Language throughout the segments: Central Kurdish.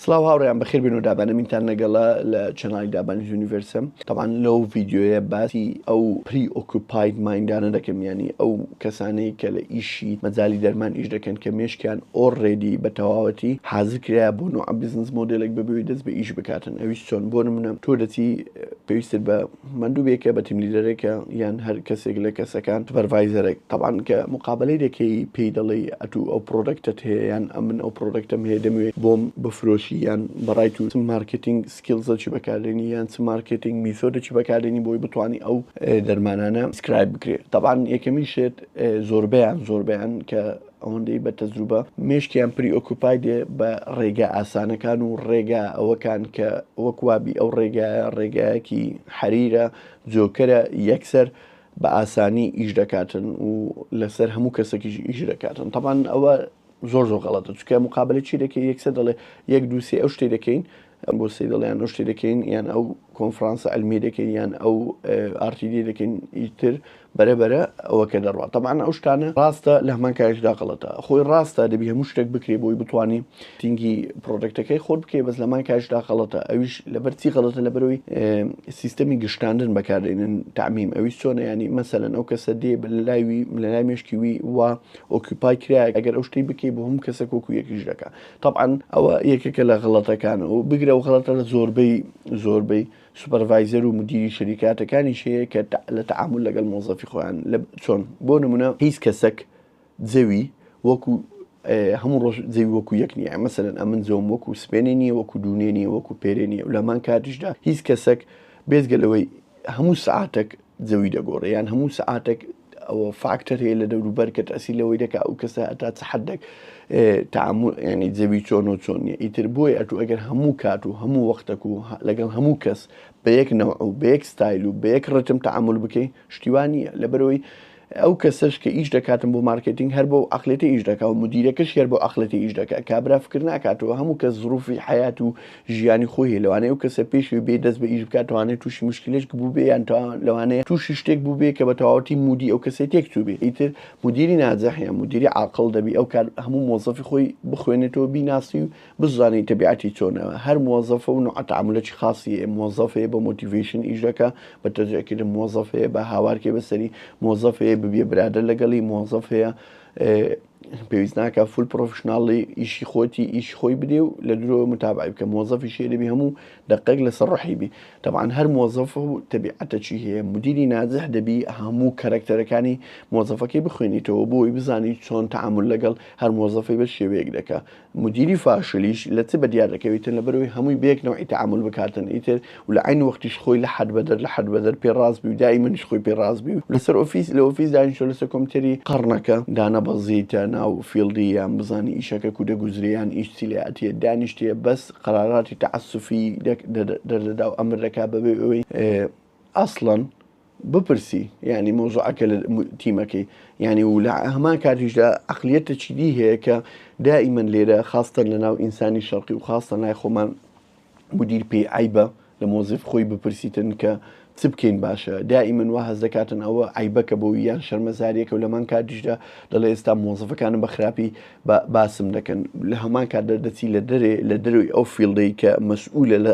سڵاو هاوڕێیان بەخێر بێن و دابەنەمینتان لەگەڵە لە چەناڵی دابانی یونیڤرسم تەمان لەو ڤیددیوەیە باسی ئەو پری ئۆکوپایت مایندانە دەکەم ینی ئەو کەسانەی کە لە ئیشی مەجای دەرمان ئیش دەکەن کە مێشکیان ئۆڕێدی بە تەواوەتی حازر کرایە بۆ نوع بزنس مۆدلێک بەبێوی دەست بە ئیش بکاتن ئەویش چۆن بۆ نمونە تۆ دەچی پێویستت بە مەندوبێکە بە تیم لیدەرێکە یان هەر کەسێک لە کەسەکان سوپەرڤایزەرێک تەبان کە مقابلەی دەکەی پێی دەڵێی ئەتو ئەو پرۆدەکتەت هەیە یان ئەمن ئەو پرۆدەکتەم هەیە دەموێ بۆم بفرۆشی یان بەڕای تو چ مارکێتینگ سکیڵزەکی بەکاردێنی یان چ مارکێتینگ میسۆدەکی بەکاردێنی بۆی بتوانی ئەو دەرمانانە پرسکرایب بکرێ تەبان یەکەمین شێت زۆربەیان زۆربەیان کە ئەوەندەی بە تەجروبە مێشکیان پری ئۆکوپای دێ بە ڕێگا ئاسانەکان و ڕێگا ئەوەکان کە وەک وابی ئەو ڕێگایە ڕێگایەکی حەریرە جۆکەرە یەکسەر بە ئاسانی ئیش دەکاتن و لەسەر هەموو کەسێکیش ئیش دەکاتن تەبان ئەوە زۆر زۆر غەڵەتە چکە مقابلە چی دەکەی یەکسەر دەڵێ یەک دووسێ ئەو شتێ دەکەین ئەم بۆسەی دەڵێن ئەو شتەی دەکەین یان ئەو کۆنفرانسە ئەلمی دەکەین یان ئەو ئارتیدی دەکەین ئیتر بەرە بەرە ئەوە کە دەڕات تەمان ئەو شتانە ڕاستە لە هەمان کاریشدا غڵەتە خۆی ڕاستە دەبی هەموو شتێک بکرێ بۆی بتانی تینگی پرۆدەکتەکەی خۆت بکەی بەس لەمان کاریشدا غڵەتە ئەویش لەبەرچی غڵەتە لە بەرەوەی سیستەمی گشتاندن بەکاردێنن تعمیم ئەوی سۆنە ینی مەسەلەن ئەو کەسە دێ بە لەلاوی لەلای مشکی وی وا ئۆکیپای کرایە ئەگەر ئەو شتی بکەی بۆ هەموو کەسە کۆکو یەکیش دەکە تەبعەن ئەوە یەکێکە لە غەڵەتەکان و بگرە و غەڵەتە لە زۆربەی زۆربەی سوپەرڤایزەر و مدیری شەریکاتەکانیش هەیە کە لە تەعامول لەگەڵ مۆزەفی خۆیان لە چۆن بۆ نمونە هیچ کەسەک جەوی وەکو هەموو ڕۆژ جەوی وەکو یەک نییە مەسەرەن ئەمن زۆم وەکو سپێنێ نیە وەکو دوونێ نیە وەکو پێرێ نیە و لەمان کاتیشدا هیچ کەسەک بێزگە لەوەی هەموو سعاتێک جەوی دەگۆڕێ یان هەموو سعاتێک ئەوە فاکتەر هەیە لە دەوروبەر کە تەسی لەوەی دەکا ئەو کەسە هەتا چ حدێک تامور ینی جەوی چۆن و چۆن نیە ئیتر بۆی ئەتو ئەگەر هەموو کات و هەموو وەختەک و لەگەڵ هەموو کەس بە یەک نەوع و بە یەک ستایل و بە یەک ڕتم تعامل بکەی شتیوان نییە لەبەرەوەی ئەو کەسش کە ئیش دەکاتم بۆ مارکتنگ هەر بۆ ئەقلێتی ئیش دەکا و مدیرەکەش هەر بۆ ئەقلەتی ئیش دەکە کابرا فکر ناکاتەوە هەموو کە زروفی حیات و ژیانی خۆی هەیە لەوانەیە ئەو کەسە پێش ئەوی بێ دەست بە ئیش بکات توانێت توشی مشکلەشک بووبێ یان تا لەوانەیە توشی شتێک بووبێ کە بە تەواوەتی مودی ئەو کەسێ تێک چووبێ ئیتر مدیری ناجح یان مدیری عاقڵ دەبی ئەو کات هەموو مۆزەفی خۆی بخوێنێتەوە بیناسی و بزانێت تەبیعەتی چۆنە هەر مۆزەفە و نوعە تعاملەکی خاصی هەیە مۆزەفەیە بە مۆتیڤەیشن ئیش دەکا بە تەجەکردن مۆزەفەیە بە هاوارکێ بەسەری مۆزەفەیە ببیە برادەر لەگەڵی مۆزەفەیە پێویست ناکە فول پرۆفشنناڵی ئیشی خۆتی ئیشی خۆی بدێ و لە درۆ متابعی بکە مۆزەفی شێ دەبی هەموو دقێک لەسەر ڕحیبی تەبان هەر مۆزەف و تەبیعەتە چی هەیە مدیری نازح دەبی هەموو کەرەکتەرەکانی مۆزەفەکەی بخوێنیتەوە بۆی بزانی چۆن تعامل لەگەڵ هەر مۆزەفی بە شێوەیەک دەکە مدیری فاشلیش لە چ بەدیار دەکەویتن لەبەرەوەی هەمووی بەیەک نەوعی تەعامول بکاتن ئیتر و لە عەین وەختیش خۆی لە حەد بەدەر لە حەد بەدەر پێ ڕاست بی و دائیمەنیش خۆی پێ ڕاست بی و لەسەر ئۆفیس لە ئۆفیس دانیشە لەسەر کۆمپیوتەری قەڕنەکە دانەبەزیتە ناو فیڵدی یان بزانی ئیشەکە کو دەگوزرێ یان ئیش چی لێ ئەتیە دانیشتێ بەس قەراراتی تەعەسوفی دەردەدا و ئەمر دەکا بەبێ ئەوەی ئەسڵەن بپرسی یانی مەوزوعەکە لە تیمەکەی یانی و لە هەمان کاتیشدا عقلیەتە چیدی هەیە کە دائیمەن لێرە خاستن لە ناو ئینسانی شەڕقی و خاستە لای خۆمان مدیر پێی عیبە لە مۆزیف خۆی بپرسیتن کە چ بکەین باشە دائیمەن وا هەز دەکاتن ئەوە عیبەکە بۆ یان شەرمەزاریەکە و لەمان کاتیشدا دەڵێ ئێستا مۆزفەکانم بە خراپی باسم دەکەن لە هەمان کات دەردەچی لە دەرێ لە دەروی ئەو فیلدەی کە مەسئولە لە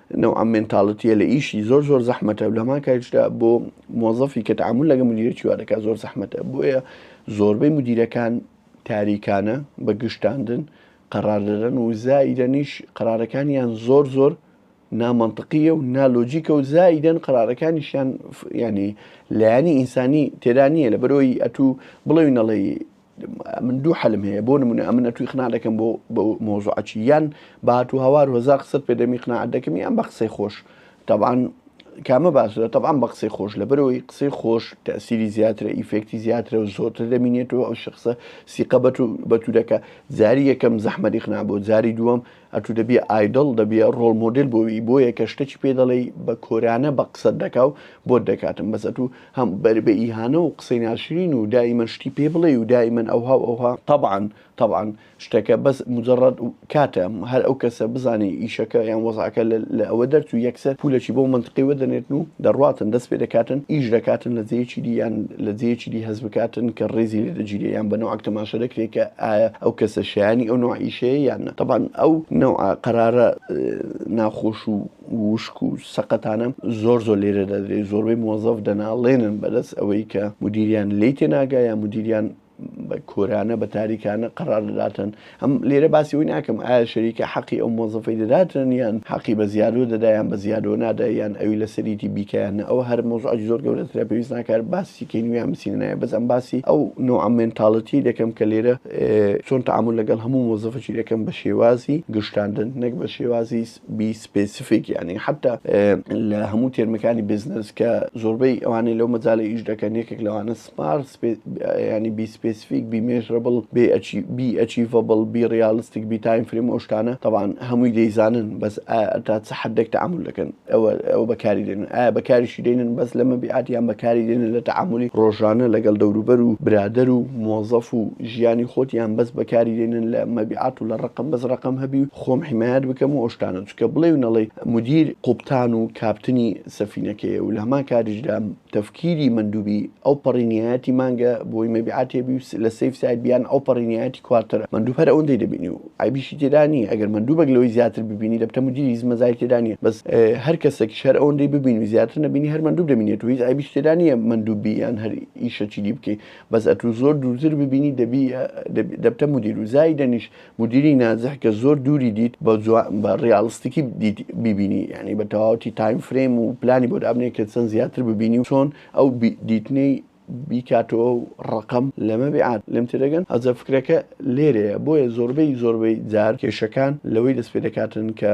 نەوعەم مێنتاڵتیە لە ئیشی زۆر زۆر زەحمەتە و لەمان کاریشدا بۆ مۆزەفی کە تعامل لەگە مدیرە چیوا دەکات زۆر زەحمەتە بۆیە زۆربەی مدیرەکان تاریکانە بە گشتاندن قەرار دەدەن و زائیدەنیش قرارەکانیان زۆر زۆر نامەنتقیە و نالۆجیکە و زائیدەن قرارەکانیشیان ینی لایەنی ئینسانی تێدا نییە لە بەرۆی ئەتوو بڵێوی نەڵێ من دوو حەلم هەیە بۆ نمونە ئەمنە توی خنا دەکەم بۆ مۆزعچی یان بات و هەوار هزار قسەت پێ دەمی قناعات دەکەم یان بە قسەی خۆش تاوان کامە باسرە تەعاان بە قسەی خۆش لە بەرەوەی قسەی خۆش تەسیری زیاترە ئیفێکتی زیاترە و زۆرتر دەمینێتەوە ئەو شخصە سیقەبەت و بەتوورەکە جاری یەکەم زەحمەری خنا بۆ جاری دووەم ئەتو دەبیە ئایدڵ دەبیە ڕۆڵ مۆدێل بۆ وی بۆیە کە شتەکی پێ دەڵێی بە کۆرانە بە قسەت دەکا و بۆت دەکاتم بەس ئەتو هەم بەر بە ئیهانە و قسەی ناشرین و دایمەن شتی پێ بڵێی و دایمەن ئەوها و ئەوها تەبعەن تەبعەن شتەکە بەس موجەڕەد کاتە هەر ئەو کەسە بزانێ ئیشەکە یان وەزعەکە لە ئەوە دەرچوو یەکسەر پولەکی بەو مەنتقەی وەدەنێرن و دەڕواتن، دەست پێ دەکاتن، ئیش دەکاتن لە جێیەکی دی یان لە جێیەکی دی هەست بکاتن کە ڕێزی لێ دەگیرێ یان بە نەوعەک تەماشا دەکرێ کە ئایا ئەو کەسە شایانی ئەو نەوع ئیشەیە یان نە. تەبعەن ئەو نەوعە قەرارە ناخۆش و وشک و سەقەتانە زۆر زۆر لێرە دەدرێ، زۆربەی موەزەف دەناڵێنن بەدەست ئەوەی کە مودیریان لێی تێناگا یان مودیریان بە کۆرانە بە تاریکانە قەرار دەداتن ئەم لێرە باسی ئەوی ناکەم ئایا شەریکە حەقی ئەو مۆزەفەی دەداتن یان حەقی بە زیادۆ دەدایان بە زیادۆ نادا یان ئەوی لە سەریتی بیکەیان ئەوە هەر مۆزعج زۆر گەورەترە پێویست ناکار باسی کەین ویان بسینە نایە بەس ئەم باسی ئەو نوعە مێنتاڵەتی دەکەم کە لێرە چۆن تعامل لەگەڵ هەموو مۆزەفەکی دەکەم بە شێوازی گشتاندن نەک بە شێوازی بی سپێسیفیک یعنی حتا لە هەموو تێرمەکانی بزنس کە زۆربەی ئەوانەی لەو مەجالە ئیش دەکەن یەکێک لەوانە Smart یانی Be Specific Be Measurable Be Achievable Be Realistic Be Time Frame ئەو شتانە تەبعەن هەمووی دەیزانن بەس ئایا تا چ حەدێک تەعامول دەکەن ئەوە ئەوە بەکاری دێنن ئایا بەکاریشی دێنن بەس لە مەبیعات یان بەکاری دێنن لە تەعامولی ڕۆژانە لەگەڵ دەوروبەر و برادەر و مۆزەف و ژیانی خۆت یان بەس بەکاری دێنن لە مەبیعات و لە ڕەقەم بەس ڕەقەم هەبی و خۆم حیمایەت بکەم و ئەو شتانە چونکە بڵێ و نەڵێی مودیر قوبتان و کاپتنی سەفینەکەیە و لە هەمان کاتیشدا تەفکیری مەندوبی ئەو پەڕینیایەتی مانگە بۆی مەبیعات هەبی و لە سەیف ساید بیان ئەو پەڕینیایەتی کوارتەرە مەندوب هەر ئەوەندەی دەبینی و عەیبیشی تێدا نییە ئەگەر مەندوبێک لەوەی زیاتر ببینی دەبتە مودیری هیچ مەزای تێدا نییە بەس هەر کەسێکیش هەر ئەوەندەی ببینی و زیاتر نەبینی هەر مەندوب دەبینێت و هیچ عەیبیش تێدا نییە مەندوب بی یان هەر ئیشەکی دی بکەی بەس ئەتوو زۆر دوورتر ببینی دەبی دەبتە مودیر و زایدەنیش مدیری ناجح کە زۆر دووری دیت بە بە ڕیاڵستیکی دیت بیبینی یعنی بە تەواوەتی تایم فرەیم و پلانی بۆ دابنێ کە چەند زیاتر ببینی و چۆن ئەو دیتنەی بیکاتەوە و ڕقم لەمە بێعات لێم تێدەگەن ئەجە فکرەکە لێرەیە بۆیە زۆربەی زۆربەی جار کێشەکان لەوەی دەست پێ دەکاتن کە